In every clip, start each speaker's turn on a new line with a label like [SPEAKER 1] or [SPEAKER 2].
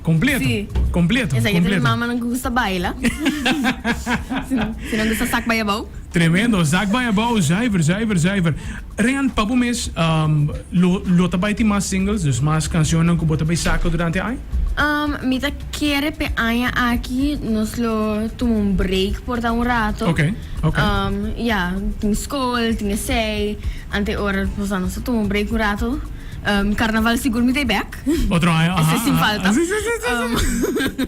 [SPEAKER 1] Completo. Sí. Completo.
[SPEAKER 2] Esaki completo. tin
[SPEAKER 1] mamanan que
[SPEAKER 2] gusta
[SPEAKER 1] baila.
[SPEAKER 2] si no gusta zak bij abouw. Tremendo. Zak bij
[SPEAKER 1] abouw. Zuiver, zuiver, zuiver. Rehan, pa bo mes, um, lo, lo ta bij mas singles, dus mas cancionnan ku bo ta bij saka durante aña? Um, mi ta
[SPEAKER 2] kere pe aña aki nos lo tuma un break por ta un rato. Okay,
[SPEAKER 1] okay.
[SPEAKER 2] Um, ja, tin school, tin esei. Ante ora, nos ta tuma un break un rato. Um, carnaval sigur mi ta e back. Black. Otro aña, aha. Ese sin
[SPEAKER 1] falta. Si, si,
[SPEAKER 2] si, si, si. Um,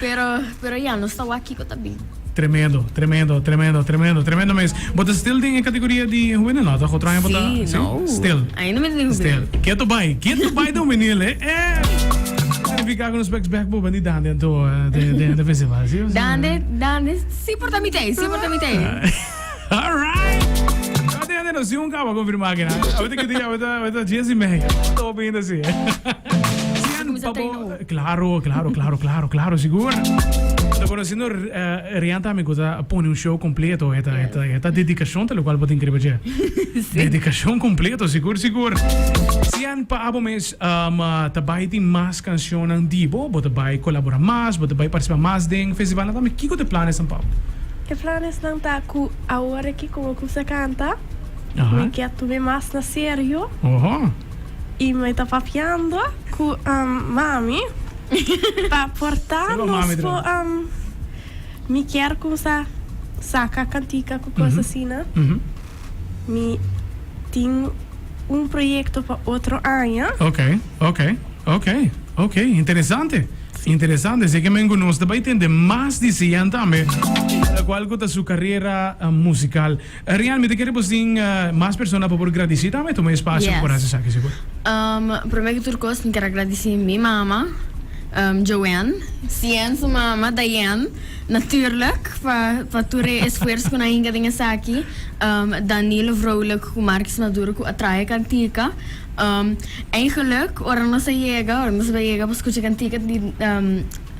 [SPEAKER 2] pero, pero ya, nos ta wak kiko ta bin. Tremendo, tremendo,
[SPEAKER 1] tremendo, tremendo, tremendo mes. Bo ta still den e categoria di juvenil, no? Toch? Otro aña bo ta. Si, no. Still.
[SPEAKER 2] Ainda mi ta den
[SPEAKER 1] juvenil.
[SPEAKER 2] Still. Keto bai,
[SPEAKER 1] keto bai den juvenil, eh. Verifica con los specs back bo bani dan den to, eh, den, den, den festival, si o si? Dande, dande,
[SPEAKER 2] si por ta mitei, si por ta mitei. Alright!
[SPEAKER 1] Tabata tin hende nos tin un kaba konfirmá aki, na? Tabata tin hende nos tin un kaba konfirmá aki, na? Tabata tin hende nos tin, tabata, tabata Jessy Meijer. Tabata tin hopi hende así, eh. Sigur mi sa ta i no. Claro, claro, claro, claro, claro, sigur. Bo ta konosendo Rian tambe ku ta pone un show kompleto. E ta, e ta, e ta dedikashon ta lokual bo tin kere pach'é. Dedikashon kompleto, sigur, sigur. Sian pa abo mes ta bai tin mas kanshonnan di bo? Bo ta bai kolaborá mas? Bo ta bai partisipá mas den festivalnan tambe? Kiko ta e plannan esnan pa abo? E planesnan
[SPEAKER 3] ta ku awor aki ku bo kumsa kanta, mi ke
[SPEAKER 1] tume
[SPEAKER 3] mas na serio
[SPEAKER 1] i mi
[SPEAKER 3] ta papiando ku mami pa porta nos ku mi kier kumsa saka kantika ku kos asina. Mi tin un proyekto pa otro aña.
[SPEAKER 1] Interesante, si e kimen ku nos ta bai tende mas di siyen tambe. Kual ku ta su karera musikal? Rian, mi ta kere bo sin mas persona pa por gradisí tambe tuma e spasio pa por hasi esaki, si por. Promé ku
[SPEAKER 2] tur kos mi ker a gradisí mi mama, Joanne, Siyen su mama, Diane, natùrlik pa pa tur e esfuers ku nan hinka den esaki, Danilo Vrolijk ku Marcus Maduro ku a traha e kantika. Ein geluk ora nos a yega, ora nos bai yega pa skucha kantika di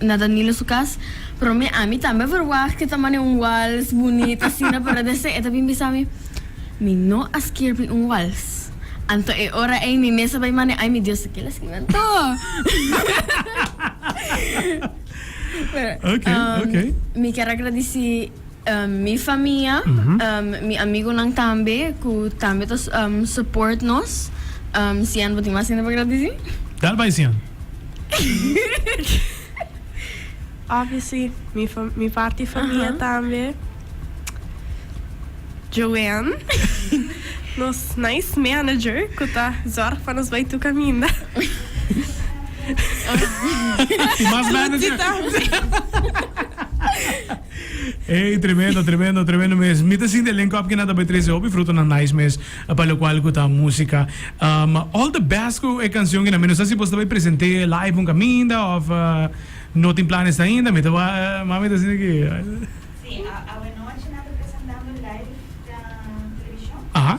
[SPEAKER 2] na Danilo su kas, promé ami tambe a verwagt ke ta manda e un wals bunit asina pero deshe e ta bin bisa mi, Mi no a skirbi un wals. Anto e ora ei mi mes a bai manda, Ai mi Dios, ta kila a skirbi anto?
[SPEAKER 1] Pero mi kier a gradisi.
[SPEAKER 2] Mi famia, mi amigunan tambe cu tambe ta support nos. Sian, bo tin mas hende pa keda dici? Dal bay Sian.
[SPEAKER 3] Obvio si, mi parti famia tambe. Joanne, nos nice manager cu ta zorg pa nos bay tur caminda.
[SPEAKER 1] Tin mas manager? Ey tremendo tremendo tremendo mes mi ta sinti alen kòp kina ta bay trece hopi frutonan nice mes pa lo cual cu ta musica um all the best cu e cancion kina mi no sa si bosta bay presente live un caminda of no tin planes ainda mi ta ma mi ta sinti ki. Sí, awanochi nan ta presentando live den television.
[SPEAKER 4] Aha.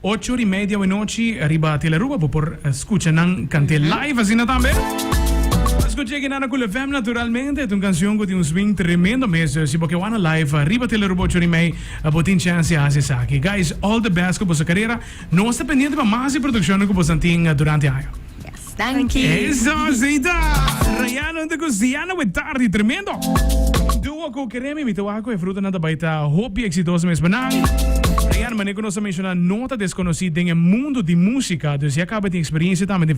[SPEAKER 1] Ocho di media we nochi riba Tel Aruba bo por scucha nan cante live asina tambe. Bo a scucha e Genana Cool FM naturalmente. Ta un cancion cu tin un swing tremendo mes. Si bo ke wana live riba Tel Aruba ocho di mei bo tin chance di haci esaki. Guys all the best cu boso carera. Nos ta pendiente pa mas di produccionnan cu boso tin durante aña. Danki.
[SPEAKER 2] Eso asita!
[SPEAKER 1] Rayana junto cu Siana with Tardi, tremendo! Duo cu Keremi, mi ta waha cu e fruta nan ta bay ta hopi exitoso mes pa nan. Rayana, manera cu nos a menciona, no ta desconoci den e mundo di musica, dus ya caba tin experiencia tambe den.